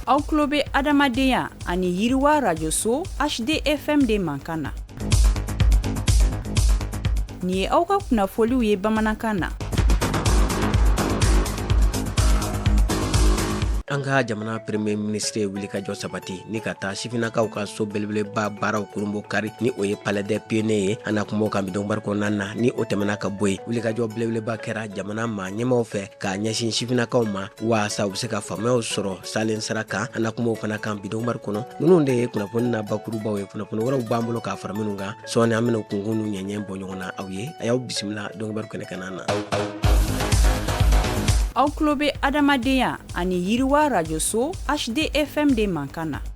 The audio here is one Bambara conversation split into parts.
aw tulo bɛ adamadenya ani yiriwa rajoso hdfm de mankan na nin ye aw ka kunnafoliw ye bamanankan na an ka jamana premier ministre ye wulikajɔ sabati ni ka taa sifinakaw ka so belebeleba baaraw kurunbonkari ni o ye palais des pionniers ye an na kuma o kan bi donkibaru kɔnɔna na ni o tɛmɛna ka bɔ yen wulikajɔ belebeleba kɛra jamana maa ɲɛmaw fɛ k'a ɲɛsin sifinakaw ma waasa u bɛ se ka faamuyaw sɔrɔ salen sara kan an na kuma o fana kan bi donkibaru kɔnɔ ninnu de ye kunnafoni na bakurubaw ye kunnafoni wɛrɛw b'an bolo k'a fara minnu kan sɔɔni an bɛna kunkun n'u ɲɛɲɛ bɔ ɲɔgɔn na aw ye a y'aw bisimila donkibaru kɛnɛ kanna na aw tulo bɛ adamadenya ani yiriwa rajoso hdfm de mankan na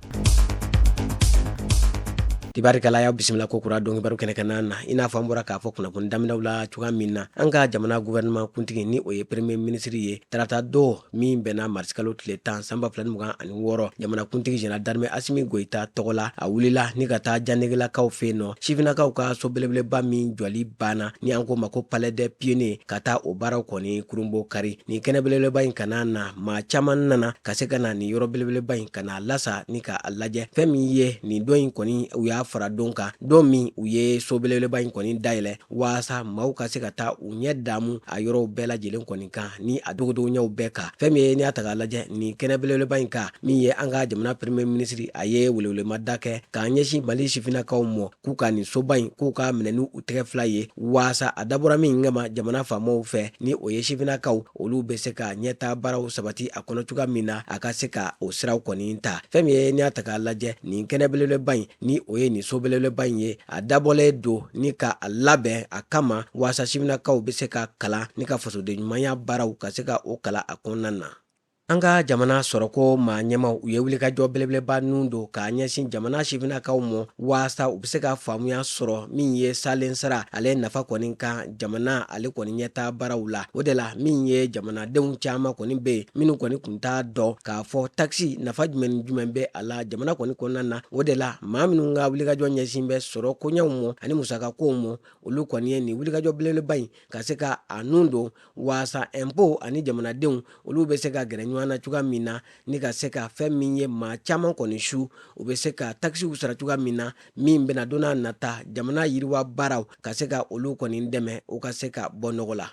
Tabarikala y'aw bisimila kokura donkibaru kɛnɛ kanna na i n'a fɔ an bɔra k'a fɔ kunnafoni daminɛw la cogoya min na an ka jamana gouvernement kuntigi ni o ye premier ministre ye taratadon min bɛnna marisikalo tile tan san ba fila mugan ani wɔɔrɔ jamanakuntigi général d'armée asimi goyita tɔgɔ la a wulila ni ka taa janegelakaw fɛ yen nɔ sifinakaw ka so belebeleba min jɔli banna ni an k'o ma ko palais des pionniers ka taa o baaraw kɔni kurunbonkari nin kɛnɛ belebeleba in kanna na maa caman nana ka se ka na nin yɔrɔ belebeleba in ka na a lasa ni ka a lajɛ fɛn min ye nin don in kɔni u y'a fara don kan don min u ye so belebeleba in kɔni dayɛlɛ waasa maaw ka se ka taa u ɲɛ damu a yɔrɔw bɛɛ lajɛlen kɔni kan ni a dogodogoɲɛw bɛɛ kan fɛn min ye n'i y'a ta k'a lajɛ nin kɛnɛ belebeleba in kan min ye an ka jamana premier ministre a ye welewelemada kɛ k'a ɲɛsin mali sifinnakaw mɔ k'u ka nin soba in k'u k'a minɛ ni u tɛgɛ fila ye waasa a dabɔra min kama jamana faamaw fɛ ni o ye sifinnakaw olu bɛ se ka ɲɛtaa baaraw sabati a kɔnɔ cogoya min na a ka se ka o siraw kɔni ta fɛn min ye n'i y'a ta k'a lajɛ nin kɛnɛ belebeleba in ni o ye nin so belebeleba in ye a dabɔlen don ni ka a labɛn a kama waasa sifinakaw bɛ se ka kalan ni ka fasoden ɲumanya baaraw ka se ka o kalan a kɔnɔna na an ka jamana sɔrɔko maa ɲɛmaw u ye wulikajɔ belebeleba nun don k'a ɲɛsin jamana sifinakaw mɔ waasa u bɛ se ka faamuya sɔrɔ min ye salen sara ale nafa kɔni kan jamana ale kɔni ɲɛtaa baaraw la o de la min ye jamanadenw caman kɔni bɛ yen minnu kɔni kun t'a dɔn k'a fɔ takisi nafa jumɛn ni jumɛn bɛ a la jamana kɔni kɔnɔna na o de la maa minnu ka wulikajɔ ɲɛsin bɛ sɔrɔ koɲɛw mɔ ani musakakow mɔ olu kɔni ye nin wulikajɔ belebeleba in ka se ka a nun don waasa impôt ani jamanadenw olu bɛ se ka gɛrɛ ɲɔgɔn na cogoya min na ni ka se ka fɛn min ye maa caman kɔni su u bɛ se ka takisiw sara cogoya min na min bɛna donna nata jamana yiriwa baaraw ka se ka olu kɔni dɛmɛ u ka se ka bɔ nɔgɔ la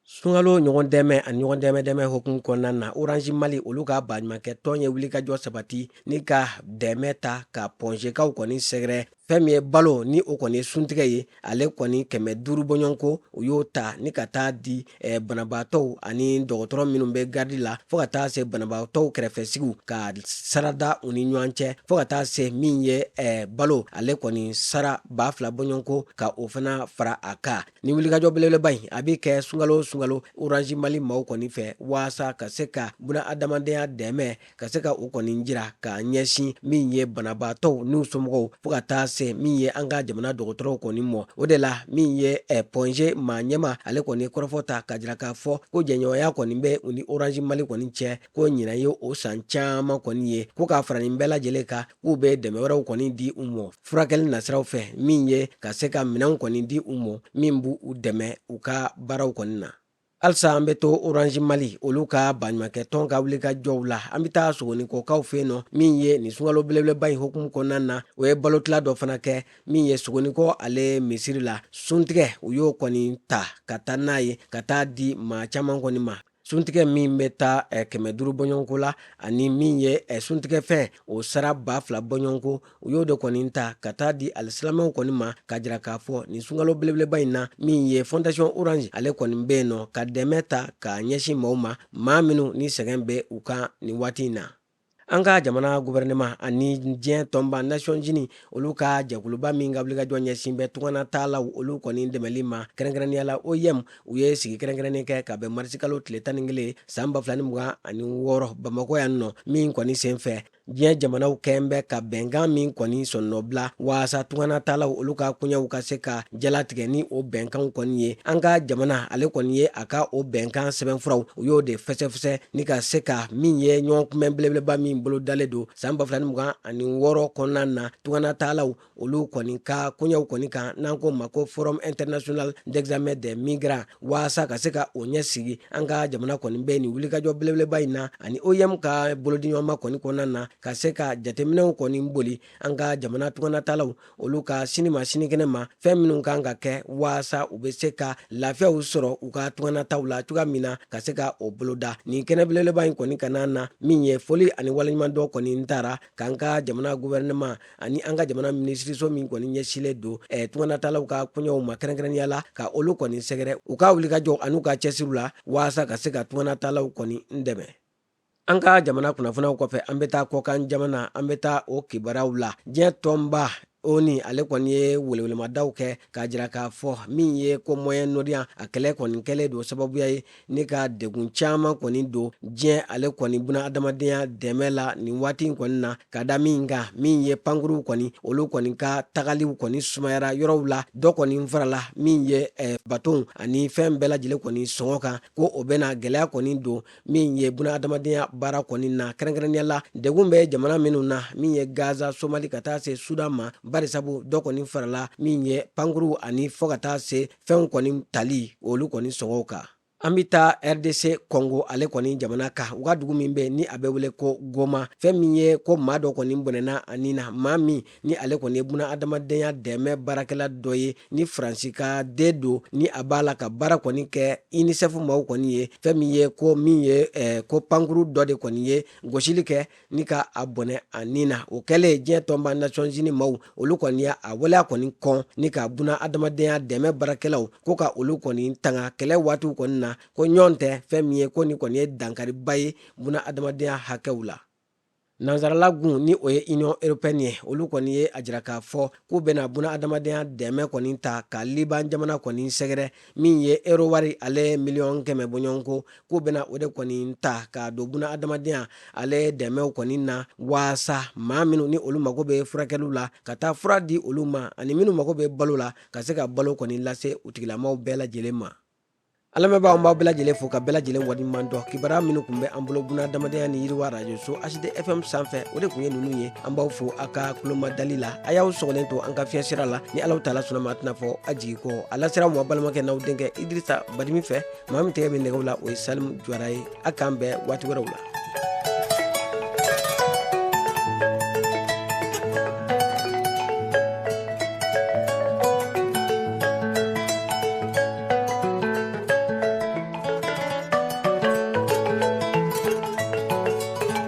sunkalo ɲɔgɔn dɛmɛ ani ɲɔgɔn dɛmɛ dɛmɛ hukumu kɔnɔna na oranzi mali olu ka baɲumankɛ tɔn ye wulikajɔ sabati ni ka dɛmɛ ta ka pɔnzekaw kɔni sɛgɛrɛ fɛn min ye balo ni o kɔni ye suntigɛ ye ale kɔni kɛmɛ duuru bɔɲɔgɔnko u y'o ta ni ka taa di eh, banabaatɔw ani dɔgɔtɔrɔ minnu bɛ garidi la fo ka taa se banabaatɔw kɛrɛfɛsigiw ka sarada u ni ɲɔgɔn cɛ fo ka taa se min ye eh, balo ale kɔni sara ba fila bɔɲɔgɔnko ka o fana fara a kan ni wulikajɔ belebeleba in a bɛ kɛ sungalo sungalo orange mali maaw kɔni fɛ waasa ka se ka buna adamadenya dɛmɛ ka se ka o kɔni jira ka ɲɛsin min ye banabaatɔw n'u somɔgɔw fo ka taa se min ye an ka jamana dɔgɔtɔrɔw kɔni mɔ o de la min ye eh, point g maa ɲɛmaa ale kɔni kɔrɔfɔ ta ka jira k'a fɔ ko jɛɲɔgɔnya kɔni bɛ u ni orange mali kɔni cɛ ko ɲinan ye o san caman kɔni ye ko ka fara nin bɛɛ lajɛlen kan k'u bɛ dɛmɛ wɛrɛw kɔni di u mɔ furakɛli nasiraw fɛ min ye ka se ka minɛnw kɔni di u mɔ min b'u dɛmɛ u ka baaraw kɔni na halisa an bɛ to orange mali olu ka baɲumankɛ tɔn ka wulikajɔw la an bɛ taa sogonikɔkaw fɛ yen nɔ min ye nin sungalo belebeleba in hukumu kɔnɔna na u ye balotila dɔ fana kɛ min ye sogonikɔ ale misiri la suntigɛ u y'o kɔni ta ka taa n'a ye ka taa di maa caman kɔni ma suntigɛ min bɛ taa eh, kɛmɛ duuru bɔɲɔgɔnko la ani min ye eh, suntigɛfɛn o sara ba fila bɔɲɔgɔnko u y'o de kɔni ta ka taa di alisilamɛw kɔni ma ka jira k'a fɔ nin sunkalo belebeleba in na min ye fondation orange ale kɔni bɛ yen nɔ ka dɛmɛ ta ka ɲɛsin maaw ma maa minnu ni sɛgɛn bɛ u kan nin waati in na an ka jamana guvɛrɛnɛma ani diɲɛ tɔnba nations unies olu ka jɛkuluba min ka wulikajɔ ɲɛsin bɛ tungana taalaw olu kɔni dɛmɛli ma kɛrɛnkɛrɛnnenya la oim u ye sigi kɛrɛnkɛrɛnnen kɛ ka bɛn marisikalo tile tan ni kelen san ba fila ni mugan ani wɔɔrɔ bamakɔ yan nɔ min kɔni sen fɛ diɲɛ jamanaw kɛn bɛ ka bɛnkan min kɔni sɔnnɔbila waasa tunganatalaw olu ka koɲɛw ka se ka jalatigɛ ni o bɛnkanw kɔni ye an ka jamana ale kɔni ye a ka o bɛnkan sɛbɛnfuraw u y'o de fɛsɛfɛsɛ ni ka se ka min ye ɲɔgɔn kunbɛn belebeleba min bolodalen don san 2026 kɔnɔna na tunganatalaw olu kɔni ka koɲɛw kɔni kan n'an k'o ma ko forum international d'examen des migrants waasa ka se ka o ɲɛ sigi an ka jamana kɔni bɛ nin wulikajɔ belebeleba in na ani oim ka bolodiɲɔgɔnma kɔni kɔnɔna na ka se ka jateminɛw kɔni boli an ka jamana tunganatalaw olu ka sini ma sinikɛnɛ ma fɛn minnu kan ka kɛ waasa u bɛ se ka lafiyaw sɔrɔ u ka tunganataw la cogoya min na ka se ka o boloda nin kɛnɛ belebeleba in kɔni ka na na min ye foli ani waleɲumandɔn kɔni tara k'an ka jamana guvɛrɛnɛma ani an ka jamana minisiriso min kɔni ɲɛsilen don eh, tunganatalaw ka koɲɛw ma kɛrɛnkɛrɛnnenya la ka olu kɔni sɛgɛrɛ u ka wulikajɔ an'u ka cɛsiriw la waasa ka se ka tunganatalaw kɔni dɛmɛ an ka jamana kunnafoniyaw kɔfɛ an bɛ taa kɔkan jamana an bɛ taa o kibaruyaw la diɲɛ tɔnba onu ale kɔni ye welewelemadaw kɛ k'a jira k'a fɔ min ye ko moyen-orient a kɛlɛ kɔni kɛlen don sababuya ye ni ka degun caman kɔni don diɲɛ ale kɔni buna adamadenya dɛmɛ la nin waati in kɔni na ka da min kan min ye pankuruw kɔni olu kɔni ka tagaliw kɔni sumayara yɔrɔw la dɔ kɔni farala min ye eh, batonw ani fɛn bɛɛ lajɛlen kɔni sɔngɔ kan ko o bɛna gɛlɛya kɔni don min ye buna adamadenya baara kɔni na kɛrɛnkɛrɛnnenya la degun bɛ jamana minnu na min ye gaza somali ka taa se sudan ma barisabu dɔ kɔni farala min ye pankuruw ani fɔɔ ka taa se fɛnw kɔni tali olu kɔni sɔngɔw kan an bɛ taa rdc kɔngo ale kɔni jamana kan u ka dugu min bɛ ni a bɛ wele ko goma fɛn min ye ko maa dɔ kɔni bɔnɛna a nin na maa min ni ale kɔni ye buna adamadenya dɛmɛ baarakɛla dɔ ye ni faransika de don ni a b'a la ka baara kɔni kɛ unicef maaw kɔni ye fɛn min ye ko min ye eh, ko pankuru dɔ de kɔni ye gosili kɛ ni ka a bɔnɛ a nin na o kɛlen diɲɛ tɔnba nations unies maaw olu kɔni ye a waleya kɔni kɔn ni ka buna adamadenya dɛmɛ baarakɛlaw ko ka olu kɔni tanga kɛlɛ waatiw kɔni na ko ɲɔgɔn tɛ fɛn min ye ko nin kɔni ye dankariba ye buna adamadenya hakɛw la nansaralagun ni o ye union européenne ye olu kɔni ye a jira k'a fɔ k'u bɛna buna adamadenya dɛmɛ kɔni ta ka liban jamana kɔni sɛgɛrɛ min ye ero wari ale miliyɔn kɛmɛ bɔɲɔgɔnko k'u bɛna o de kɔni ta ka don buna adamadenya ale dɛmɛw kɔni na waasa maa minnu ni olu mago bɛ furakɛliw la ka taa fura di olu ma ani minnu mago bɛ balo la ka se ka balo kɔni lase u tigilamaw bɛɛ lajɛlen ma an lamɛnbaaw an b'aw bɛɛ lajɛlen fo ka bɛɛ lajɛlen waleɲuman dɔn kibaruya minnu kun bɛ an bolo buna adamadenya ni yiriwa radio so HD FM sanfɛ o de kun ye ninnu ye an b'aw fo a ka kulomadali la a y'aw sɔgɔlen to an ka fiɲɛsira la ni alahu taala sɔnna a ma a tɛna fɔ a jigi kɔ a lasera a ma a balimakɛ n'aw denkɛ idirisa badimi fɛ maa min tɛgɛ bɛ nɛgɛw la o ye salimu jwara ye a k'an bɛn waati wɛrɛw la